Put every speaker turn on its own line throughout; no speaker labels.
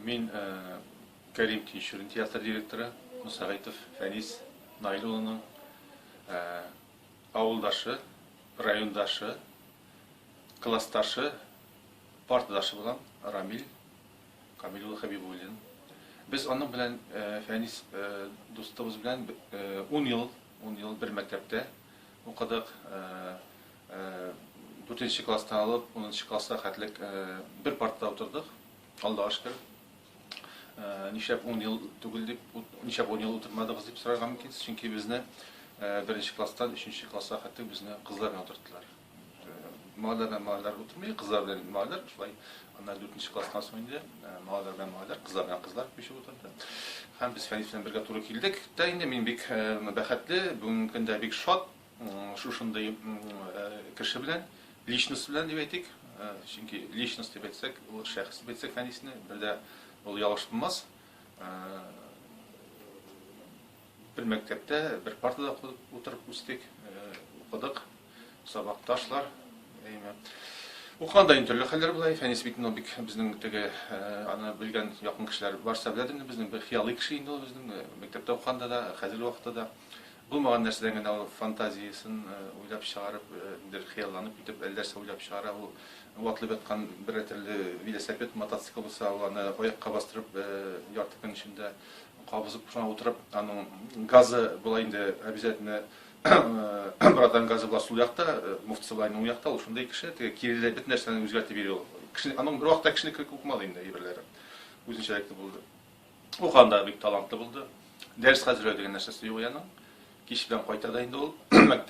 Мин Кәрим Тинчурин театры директоры Мусагайтов Фәнис Наил улының авылдашы, райондашы, классташы, партадашы булам Рамил Камил улы Хәбибуллин. Без аның белән Фәнис дустыбыз белән 10 ел, 10 ел бер мәктәптә Укыдык, дүртенче класстан алып унынчы класска хәтлек бер партада утырдык, Аллага шөкер. Нишләп ун ел түгел дип, нишләп ун ел утырмадыгыз дип сорарга мөмкинсез, чөнки безне беренче класстан өченче класска хәтлек безне кызлар белән утырттылар. Малайлар белән малайлар утырмый, кызлар белән малайлар шулай Аннары дүртенче класстан соң инде малайлар белән малайлар, кызлар белән кызлар күчеп утырды. Һәм без Фәнис белән бергә туры килдек. Дә инде мин бик бәхетле, бүгенге көндә бик шат шушындый кеше белән, личность белән дип әйтик. Чөнки личность дип әйтсәк, ул шәхес дип әйтсәк Фәнисне, бер дә ул ялгыш булмас. Бер мәктәптә, бер партада утырып үстек, укыдык, сабакташлар. Укыганда инде төрле хәлләр була. Фәнис бит ну бик безнең теге аны белгән якын кешеләр барса беләдер инде безнең бер хыялый кеше инде ул безнең мәктәптә укыганда да, хәзерге вакытта да. Булмаган нәрсәдән генә ул фантазиясен уйлап чыгарып, бер хыялланып китеп, әллә нәрсә уйлап чыгара ул. Ул атлып яткан бер төрле велосипед, мотоцикл булса, ул аны аякка бастырып ярты көн эчендә Кабызып шуңа утырып, аның газы була инде обязательно. Братан газы була сул якта, муфт сулай уң якта, ул шундый кеше, теге кириле бит нәрсәне үзгәртеп йөри ул. Кеше аның бер вакытта кешене кирәк булмады инде әйберләре. Үзенчәлекле булды. Уканда бик талантлы булды. Дәрес хәзерләү дигән нәрсәсе юк яның. Кич белән кайта да инде ул.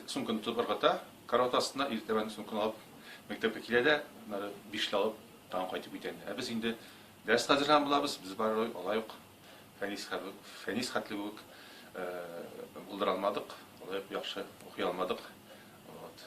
Сумкын тотып ыргыта, карават астына иртәбән сумкын алып мәктәпкә килә дә, нары бишле алып тагын кайтып китә инде. Ә без инде дәрес хәзерләгән булабыз, без барырга алай ук Фәнис хәбүк, Фәнис хәтле үк булдыра алмадык, лаек яхшы укый алмадык. Вот.